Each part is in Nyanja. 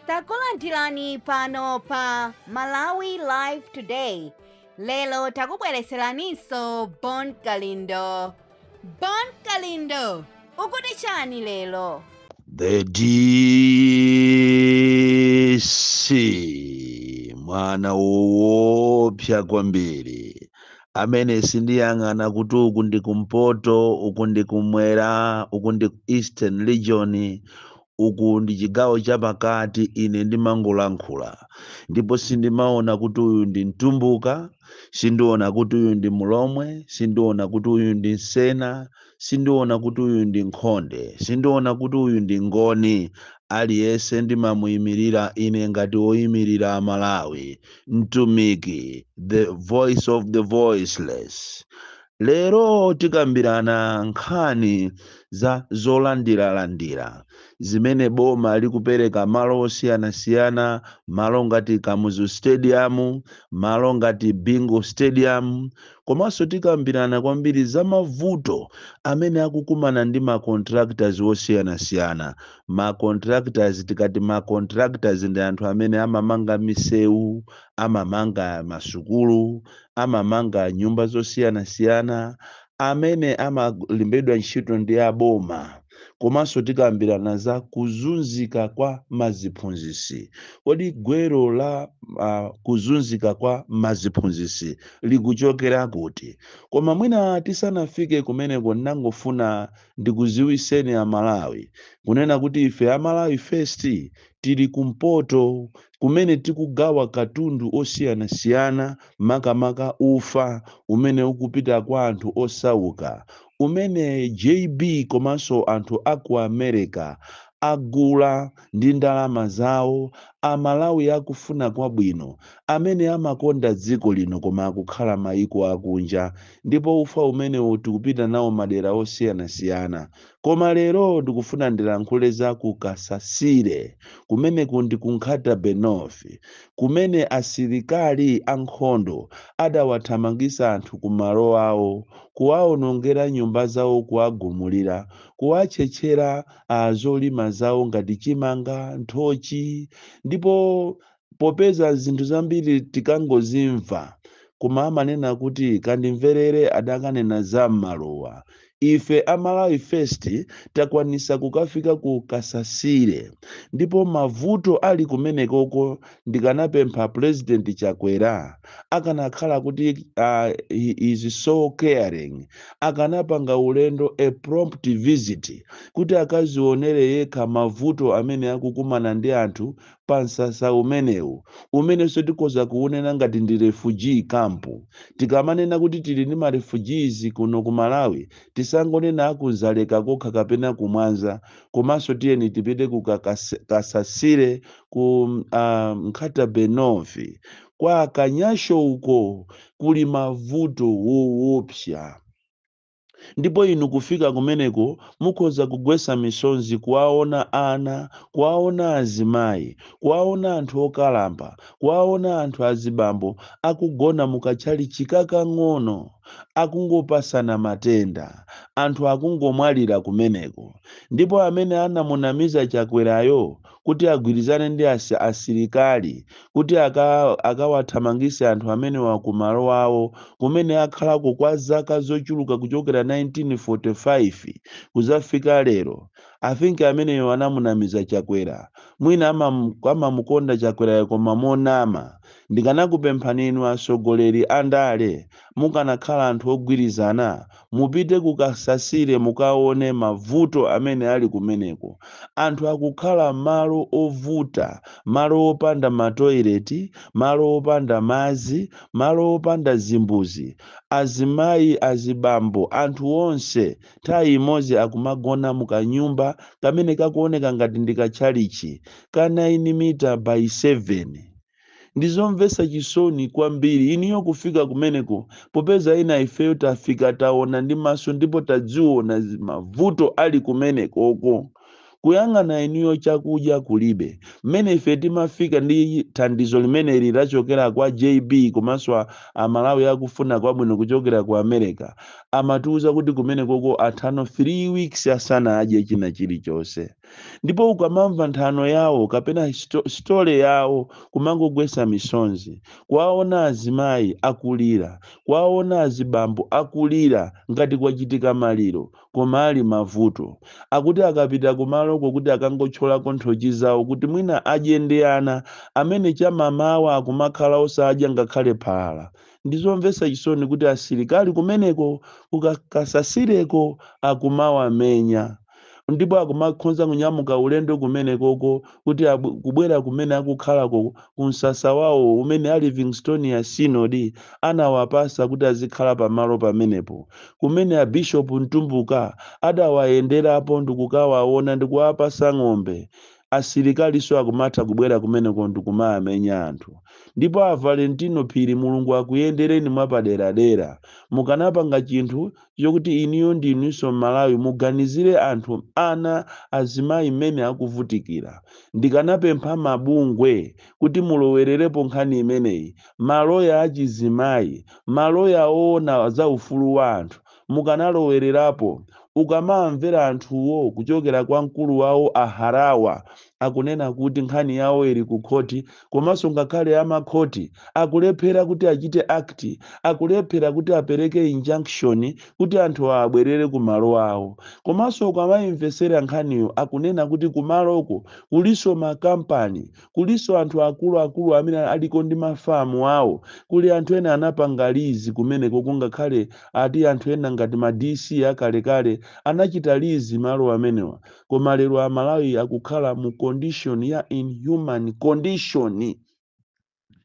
takulandirani pano pa malawi live today lero takubwereseraninso bon kalindo bon kalindo ukuti chani lero The DC mwana woopsa kwambiri amene sindiyang'ana kuti uku ndi kumpoto uku ndi kumwera uku ndi ku eastern region Uku ndi chigawo cha pakati ine ndimangolankhula ndipo sindimaona kuti uyu ndi mtumbuka, sindiona kuti uyu ndi mlomwe, sindiona kuti uyu ndi msena, sindiona kuti uyu ndi nkhonde, sindiona kuti uyu ndi ngoni. Aliyese ndimamuyimilira ine ngati oyimilira a Malawi, mtumiki, the voice of the voiceless. Lero tikambirana nkhani za zolandiralandira zimene boma likupereka malo osiyanasiyana, malo ngati Kamuzu Stadium, malo ngati Bingu Stadium, komanso tikambirana kwambiri za mavuto amene akukumana ndi ma contractors osiyanasiyana. Ma contractors, tikati ma contractors ndi anthu amene amamanga misewu, amamanga masukulu, amamanga nyumba zosiyanasiyana amene amalembedwa ntchito ndi aboma komanso tikambirana za kuzunzika kwa maziphunzisi kodi gwero la uh, kuzunzika kwa maziphunzisi likuchokera kuti koma mwina tisanafike kumeneko ndangofuna ndikuziwiseni a Malawi kunena kuti ife a Malawi First tili kumpoto kumene tikugawa katundu osiyanasiyana makamaka ufa umene ukupita kwa anthu osauka umene JB komanso anthu a ku America agula ndi ndalama zawo amalawi akufuna kwabwino amene amakonda dziko lino koma akukhala maiko akunja ndipo ufa umenewo tikupita nawo madera osiyanasiyana koma lero ndikufuna ndilankhule za ku kasasire kumeneku ndi ku nkhata bay north kumene asilikali ankhondo adawathamangisa anthu ku malo awo kuwaonongera nyumba zawo kuwagumulira kuwatchetchera a zolima zawo ngati chimanga, nthochi ndipo popeza zinthu zambiri tikangozimva koma amanena kuti kandimverere adakanena za m'maluwa ife a Malawi First takwanisa kukafika ku Kasasire ndipo mavuto ali kumenekoko ndikanapempha president chakwera akanakhala kuti uh, he is so caring akanapanga ulendo a prompt visit kuti akazionere yekha mavuto amene akukumana ndi anthu pa msasa umenewu umenenso tikhoza kuunena ngati ndi refugee camp tikamanena kuti tili ndi ma refugees kuno ku malawi tisangonena aku Dzaleka kokha kapena kumwanza komanso tiyeni tipite ku Kasasire ku uh, Nkhata Bay North kwa Kanyasho uko kuli mavuto woopsa ndipo inu kufika kumeneko mukhoza kugwesa misonzi kuwaona ana kuwaona azimayi kuwaona anthu okalamba kuwaona anthu azibambo akugona mukatchalitchi kakang'ono akungopasana matenda anthu akungomwalira kumeneko ndipo amene anamunamiza chakwerayo kuti agwirizane ndi asi, asilikali kuti aka, akawathamangise anthu amenewa ku malo awo kumene akhalako kwa zaka zochuluka kuchokera 1945 kuzafika lero. I think ameneyo anamunamiza Chakwera. Mwina amam, amamukonda Chakwerayo koma monama. Ndikanakupemphani inu atsogoleri andale mukanakhala anthu ogwirizana Mupite ku Kasasire mukaone mavuto amene ali kumeneko. Anthu akukhala malo ovuta, malo opanda matoileti, malo opanda madzi, malo opanda zimbudzi. Azimayi, azibambo, anthu onse, nthawi imodzi akumagona mu kanyumba kamene kakuoneka ngati ndi katchalitchi, ka 9 mita bayi 7. ndi zomvetsa chisoni kwambiri inuyo kufika kumeneko popeza ena ifeyo tafika taona ndi maso ndipo tadziona zi- mavuto ali kumenekoko kuyang'ana inuyo chakudya kulibe mmene ife timafika ndi thandizo limeneli lachokera kwa jb komanso a- amalawi akufuna kwabwino kuchokera ku america amatiuza kuti kumenekoko atha no 3 weeks asanadye china chilichonse ndipo ukamamva nthano yawo kapena story yawo kumangogwesa misonzi kuwaona azimayi akulira kuwaona azibambo akulira ngati kwachitika maliro koma ali mavuto akuti akapita kumaloko kuti akangothyolako nthochi zawo kuti mwina adye ndi ana amene chamamawa akumakhala osadya ngakhale phala ndizomvetsa chisoni kuti asilikali kumeneko kukasasireko akumawamenya ndipo akumakhonza kunyamuka ulendo kumenekoko kuti abw- kubwera kumene akukhalako ku msasa wawo umene a livingstonia synod anawapatsa kuti azikhala pamalo pamenepo kumene abishopu mtumbuka adawayenderapo ndikukawaona ndikuwapatsa ng'ombe asilikalinso akumatha kubwera kumeneko ndikumawamenya anthu ndipo a valentino phiri mulungu akuyendereni mwapaderadera mukanapanga chinthu chokuti inuyo ndi inunso Mmalawi muganizire anthu, ana, azimayi mmene akuvutikira. Ndikanapempha mabungwe kuti mulowererepo nkhani imeneyi, maloya achizimayi, maloya owona za ufulu wa anthu mukanalowererapo. Ukamawamvera anthuwo kuchokera kwa mkulu wawo a Harawa akunena kuti nkhani yawo ili ku khoti komanso ngakhale amakhoti akulephera kuti achite act akulephera kuti apereke injunction kuti anthuwa abwerere ku malo awo komanso ukamayimvetsera nkhaniyo akunena kuti kumaloko kulinso makampani kulinso anthu akuluakulu amene aliko ndi mafamu awo kuli anthu ena anapanga lizi kumenekoko ngakhale ati anthu ena ngati ma dc akalekale anachita lizi malo amenewa koma lero amalawi akukhala mu condition ya inhuman condition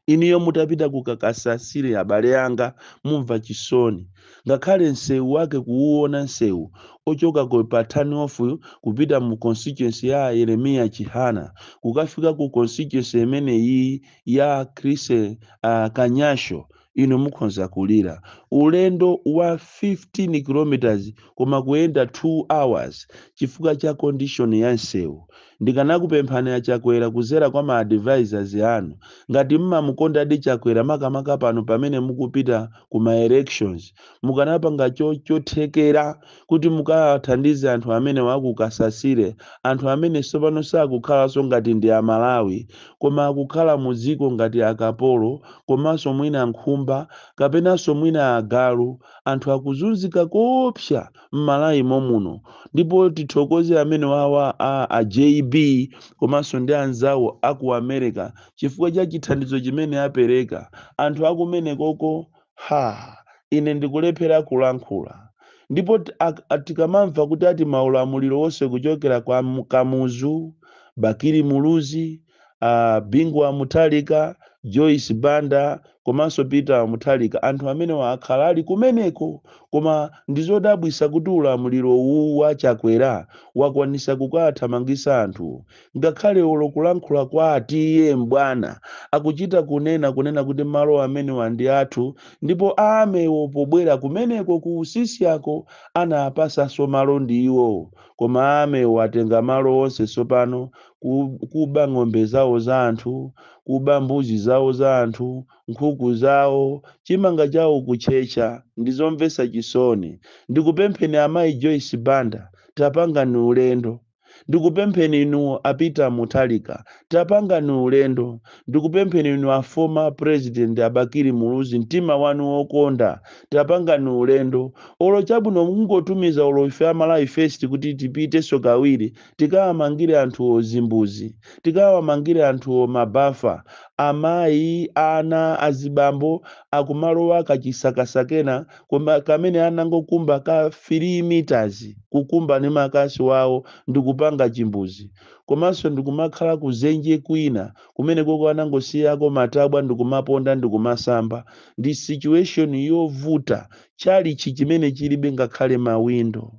inuyo mutapita ku kasasire abale anga mumva chisoni ngakhale msewu wake kuwuona msewu ochoka ku turn off kupita mu constituency ya yeremiya chihana kukafika ku constituency imeneyi ya chrise uh, kanyasho inu mukhonza kulira ulendo wa 15 km koma kuyenda 2 hours chifukwa cha condition ya nsewu. Ndikanakupemphani a Chakwera kuzera kwa ma advisors anu ngati mmamukondadi Chakwera makamaka pano pamene mukupita ku ma elections mukanapanga chothekera kuti mukathandize anthu amenewa a ku Kasasire, anthu amene tsopano sakukhalanso ngati ndi Amalawi, koma akukhala mu dziko ngati akapolo komanso mwina nkhumba kapenanso mwina agalu. Anthu akuzunzika koopsa m'Malawi momuno ndipo tithokoze amenewawa a a JB komanso ndi anzawo a ku America chifukwa cha chithandizo chimene apereka. Anthu akumenekoko Ha! Ine ndikulephera kulankhula. Ndipo t, ak, a, tikamamva kuti ati maulamuliro onse kuchokera kwa M- Kamuzu, Bakili Muluzi, a Bingu wa Mutharika, Joyce Banda komanso Peter wa Mutharika, anthu amenewa akhala ali kumeneko. Koma ndizodabwitsa kuti ulamuliro uwu wa Chakwera wakwanitsa kukawathamangitsa anthuwo. ngakhale olo kulankhula kwa a T/A M'bwana akuchita kunena kunena kuti malo amenewa ndi athu ndipo a army-wo pobwera kumeneko ku Usisyako anaapasanso malo ndi iwowo koma a army-wo atenga malo onse tsopano kuba ng'ombe zawo za anthu kuba mbuzi zawo za anthu nkhuku zawo chimanga chawo kutchetcha ndi zomvetsa chisoni ndikupempheni amayi Joyce Banda tapangani ulendo Ndikupempheni inu a Peter Mutharika tapangani ulendo, ndikupempheni inu a former president a Bakili Muluzi mtima wanu wokonda tapangani ulendo olo chabwino mungotumiza olo ife a Malawi first kuti tipitenso kawiri tikawamangire anthuwo zimbuzi, tikawamangire anthuwo ma bafa, amayi, ana, azibambo akumalowa kachisakasa kena kamene anangokumba ka 3 meters kukumba ni makasu awo ndikupanga chimbuzi komanso ndikumakhala kuzenje kwina kumene koko anangosiyako matabwa ndikumaponda ndikumasamba ndi situation yovuta chalichi chimene chilibe ngakhale mawindo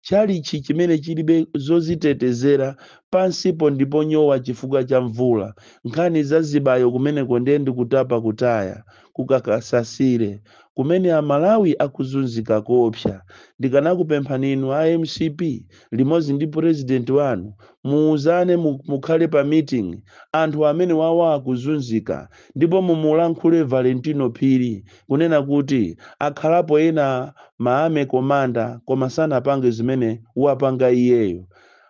chalichi chimene chilibe zozitetezera pansipo ndi ponyowa chifukwa cha mvula nkhani za zibayo kumeneko ndiye ndikutapa kutaya ku Kasasire kumene a Malawi akuzunzika koopsa. Ndikanakupemphani inu a mcp limodzi ndi president wanu muuzane mukhale pa meeting anthu amenewawa akuzunzika ndipo mumulankhule Valentino Phiri kunena kuti akhalapo ena ma army commander koma sanapange zimene wapanga iyeyo.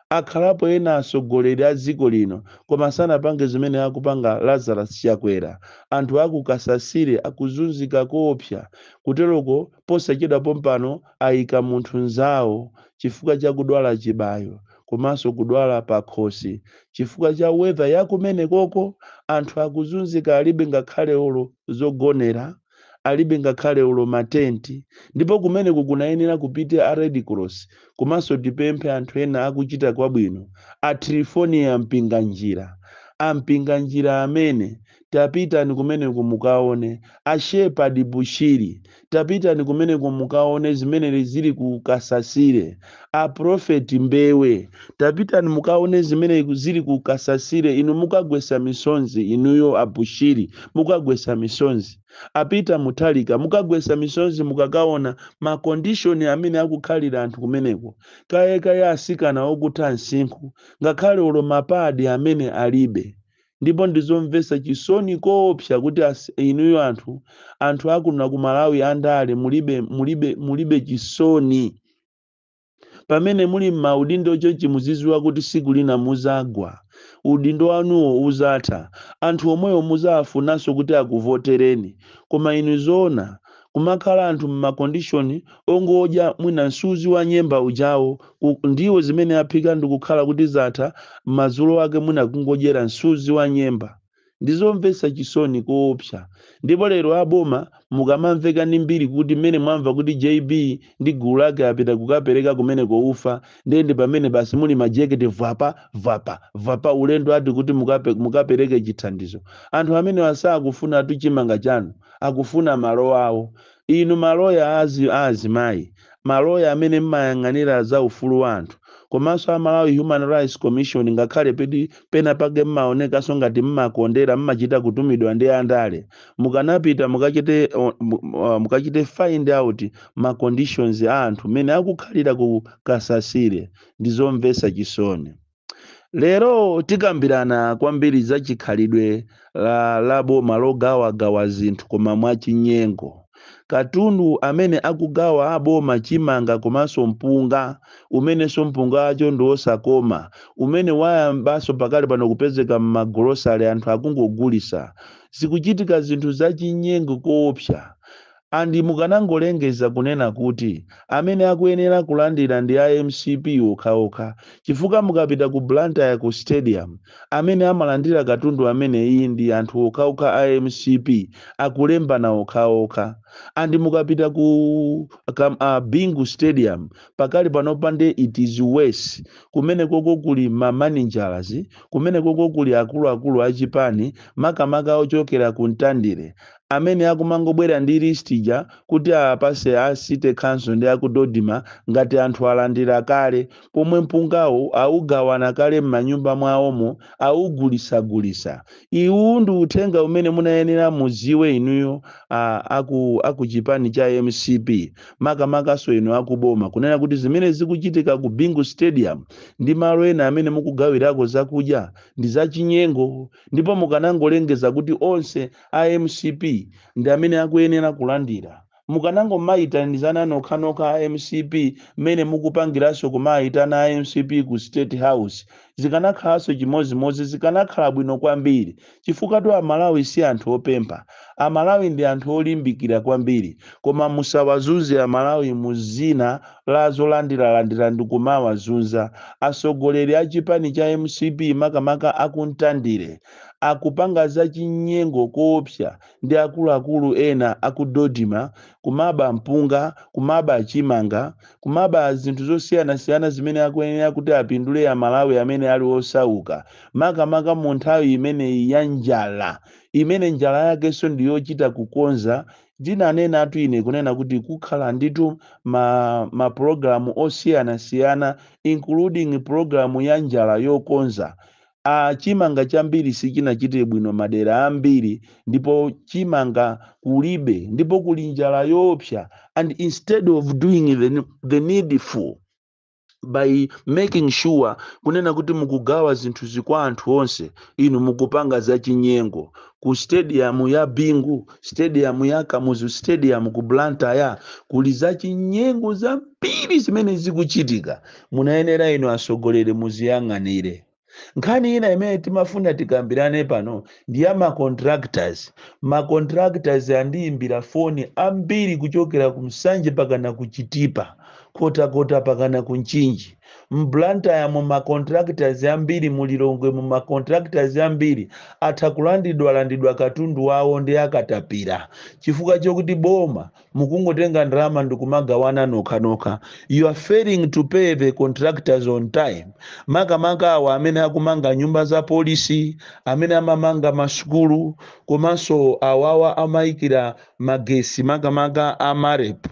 akhalapo ena atsogoleri a dziko lino koma sanapange zimene akupanga Lazarus Chakwera anthu aku Kasasire akuzunzika koopsa kuteroko posachedwa pompano ayika munthu nzawo chifukwa chakudwala chibayo komanso kudwala pakhosi chifukwa cha weather yakumenekoko anthu akuzunzika alibe ngakhale olo zogonera alibe ngakhale olo ma tent ndipo kumeneko kunayenera kupite a Red Cross komanso tipemphe anthu ena akuchita kwabwino a Triphonia Mpinganjira a Mpinganjira amene tapitani kumeneko mukaone a Shepherd Bushiri tapitani kumeneko mukaone zimene zili ku Kasasire a Prophet Mbewe tapitani mukaone zimene iku- zili ku Kasasire inu mukagwesa misonzi inuyo a Bushiri mukagwesa misonzi a Peter Mutharika mukagwesa misonzi mukakaona ma condition amene akukhalira anthu kumeneko kaya kaya asikana okutha msinkhu ngakhale olo mapadi amene alibe ndipo ndizomvesa chisoni koopsa kuti as- inuyo anthu anthu akuno ku Malawi andale mulibe mulibe mulibe chisoni pamene muli m'maudindo chonchi muziziwa kuti siku lina muzagwa udindo wanuwo uzatha anthu omweyo muzawafunanso kuti akuvotereni koma inu zoona kumakhala anthu m'ma conditioni ongodya mwina msuzi wa nyemba ujawo ndiwo zimene aphika ndikukhala kuti zatha madzulo ake mwina kungodyera msuzi wa nyemba Ndizomvetsa chisoni koopsa ndipo lero a boma mukamamveka ndi mbiri kuti mmene mwamva kuti JB ndi gulu lake apita kukapereka kumeneko ufa nde ndi pamene basi muli majekete vwapa! vwapa! vwapa! ulendo ati kuti mukape, mukapereke chithandizo. Anthu amenewa sakufunatu chimanga chanu, akufuna malo awo. Inu ma loya a a azimayi, ma loya amene mmayang'anira za ufulu wa anthu, komanso a Malawi Human Rights Commission ngakhale peti pena pake mmaonekanso ngati mmakondera mmachita kutumidwa ndi a ndale, mukanapita mukachite mukachite find out ma conditions a anthu mmene akukhalira ku Kasasile. Ndi zomvetsa chisoni. Lero tikambirana kwambiri za chikhalidwe cha, la boma logawagawa zinthu koma mwachinyengo. Katundu amene akugawa aboma chimanga komanso mpunga, umenenso mpunga wakewo ndi wosakoma, umene wayambanso pakali pano kupezeka m'magolosale anthu akungogulisa. Zikuchitika zinthu zachinyengo koopsa. And mukanangolengeza kunena kuti amene akuyenera kulandira ndi a mcp okhaokha chifukwa mukapita ku Blantyre ku stadium amene amalandira katundu ameneyi ndi anthu okhaokha a mcp akulembana okhaokha and mukapita ku kam a Bingu stadium pakali panopa nde it's worse kumenekoko kuli ma managers kumenekoko kuli akuluakulu a chipani makamaka ochokera ku Mtandire amene akumangobwera ndi list ija kuti apase a city council ndi aku Dodma ngati anthu alandira kale pomwe mpungawo awugawana kale mmanyumba mwawomo awugulisagulisa iwuwu ndi uthenga umene munayenera muziwe inuyo a aku aku chipani cha mcp makamakaso inu akuboma kunena kuti zimene zikuchitika ku Bingu stadium ndi malo ena amene mukugawirako zakudya ndi zachinyengo ndipo mukanangolengeza kuti onse a mcp ndi amene akuyenera kulandira. Mukanangomayitanizana nokhanokha a mcp mmene mukupangiranso kumaayitana a mcp ku state house zikanakhalanso chimodzimodzi zikanakhala bwino kwambiri chifukwatu a Malawi si anthu opempha. A Malawi ndi anthu olimbikira kwambiri koma musawazunze a Malawi mu dzina la zolandiralandira ndikumawazunza atsogoleri a chipani cha mcp makamaka a ku Mtandire. akupanga za chinyengo koopsa ndi akuluakulu ena aku Dodma kumaba mpunga, kumaba chimanga, kumaba zinthu zosiyanasiyana zimene akuyenera kuti apindule a Malawi amene ali osauka makamaka mu nthawi imeneyi ya njala imene njala yakenso ndi yochita kukonza ndinanenatu ine kunena kuti kukhala ndithu ma program osiyanasiyana including program ya njala yokonza Chimanga chambiri sichinachite bwino madera ambiri ndipo chimanga kulibe ndipo kuli njala yoopsa and instead of doing the needful by making sure kunena kuti mukugawa zinthu izi kwa anthu onse inu mukupanga za chinyengo ku stadium ya bingu stadium ya kamuzu stadium ku blantyre kuli za chinyengo zambiri zimene zikuchitika Munayenera inu asogoleri muziyang'anire. Nkhani ina imene timafuna tikambirane pano ndi ya ma contractors. Ma contractors andiyimbira foni ambiri kuchokera ku Nsanje pakana ku Chitipa, Nkhotakota pakana ku Mchinji. M Blantyre mu ma contractors ambiri, mu Lilongwe mu ma contractors ambiri atha kulandidwalandidwa katundu wawo ndi akatapira chifukwa chokuti boma mukungotenga ndalama ndikumagawana nokhanokha you are failing to pay the contractors on time makamaka awa amene akumanga nyumba za polisi amene amamanga masukulu komanso awawa amayikira magesi makamaka a marep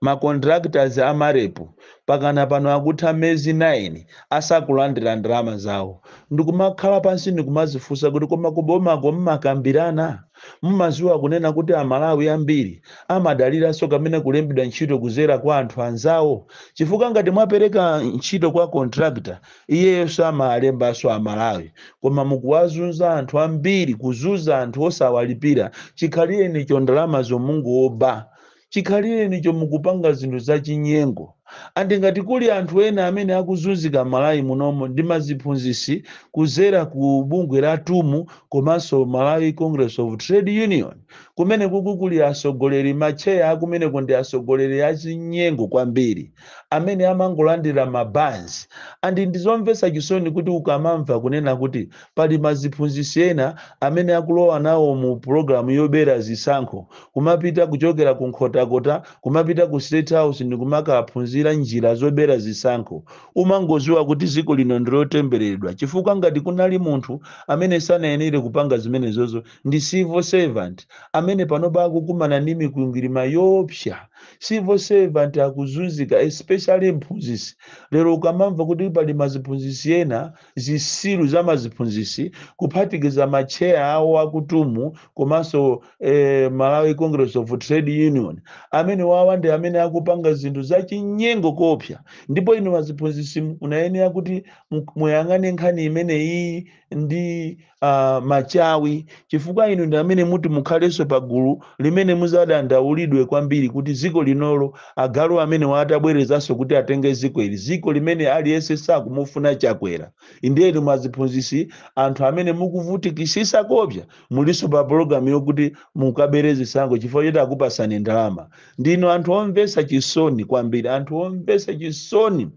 macontractors a marep pakana pano akutha mezi 9 asakulandira ndalama zawo ndikumakhala pansi ndikumazifunsa kuti koma kubomako mumakambirana Mumaziwa kunena kuti a Malawi ambiri amadaliranso kamene kulembedwa ntchito kuzera kwa anthu anzawo chifukwa ngati mwapereka ntchito kwa contractor iyeyo amalembanso a Malawi koma mukuwazunza anthu ambiri kuzunza anthu osawalipira chikhalirenicho ndalamazo mukungoba chikhalirenicho mukupanga zinthu zachinyengo and ngati kuli anthu ena amene akuzunzika Malawi munomo ndi maziphunzisi kuzera ku bungwe la tum komanso Malawi Congress of Trade Union kumenekuku kuli asogoleri matcheya akumeneko ndi asogoleri achinyengo kwambiri amene amangolandira mabanzi and ndizomvetsa chisoni kuti ukamamva kunena kuti pali maziphunzisi ena amene akulowa nawo mu program yobera zisankho kumapita kuchokera ku Nkhotakota kumapita ku state house ndikumakaphunzira njira zobera zisankho umangoziwa kuti dziko lino ndilotembereredwa chifukwa ngati kunali munthu amene sanayenere kupanga zimenezozo ndi civil servant amene panopa akukumana ndi mikwingwirima yoopsa civil servant akuzunzika especially mphunzisi lero ukamamva kuti pali maziphunzisi ena zisiru za maziphunzisi kuphatikiza ma chair awo aku TUM komanso eh, malawi congress of trade union amene wawa ndi amene akupanga zinthu zachinyengo koopsa ndipo inu maziphunzisi munayenera kuti mu- muyang'ane nkhani imene iyi ndi ah, machawi chifukwa inu ndi amene muti mukhalenso pa gulu limene muzadandaulidwe kwambiri kuti dziko linolo agalu amene waatabwerezanso kuti atenge dziko ili dziko limene aliyense sakumufuna chakwera ndiye maziphunzisi anthu amene mukuvutikisisa koopsa mulinso pa pologalamu yokuti mukabere zisankho chifukwa choti akupasani ndalama ndinu anthu omvesa chisoni kwambiri anthu omvesa chisoni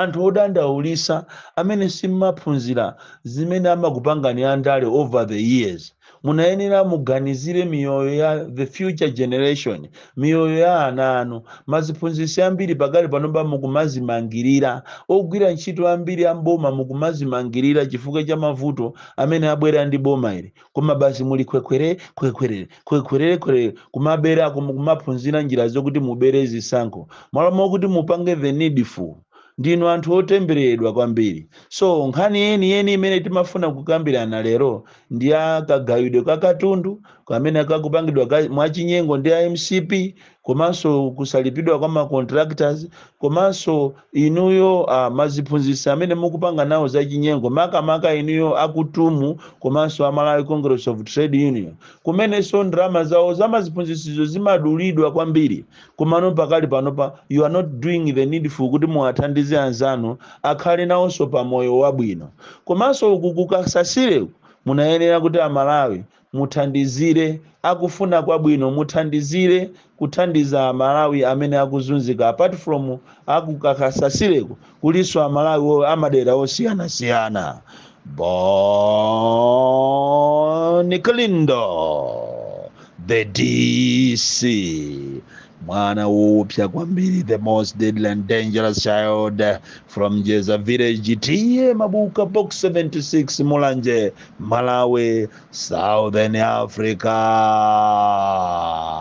Anthu odandaulisa amene simmaphunzira zimene amakupangani andale over the years munayenera muganizire miyoyo ya the future generation miyoyo ya ana anu maziphunzisi ambiri pakali panopa mukumazimangirira ogwira ntchito ambiri a m'boma mukumazimangirira chifukwa cha mavuto amene abwera ndi boma ili koma basi muli khwekhwere khwekhwerere khwekhwerere khwerere kumabera kum- kumaphunzira njira zokuti mubere zisankho malo mokuti mupange the needful ndinu anthu otembereredwa kwambiri so nkhani yeniyeni imene timafuna kukambirana lero ndi ya kagawidwe ka katundu kamene kakupangidwa ka- mwachinyengo ndi a mcp komanso kusalipidwa kwa ma contractors komanso inuyo ah, maziphunzisi amene mukupanga nawo zachinyengo makamaka inuyo aku TUM komanso a Malawi Congress of Trade Union kumenenso ndalama zawo za maziphunzisizo zimadulidwa kwambiri komano pakali panopa you are not doing the needful kuti muwathandize anzanu akhale nawonso pa moyo wabwino komanso uku ku Kasasileku munayenera kuti amalawi Muthandizire, akufuna kwabwino muthandizire kuthandiza amalawi amene akuzunzika apart from aku Kasasileku kulinso amalawi wo amadera osiyanasiyana Bon Kalindo the dc mwana woopsa kwambiri the most deadly and dangerous child from jeza village tiye mabuka box 76 mulanje malawi southern africa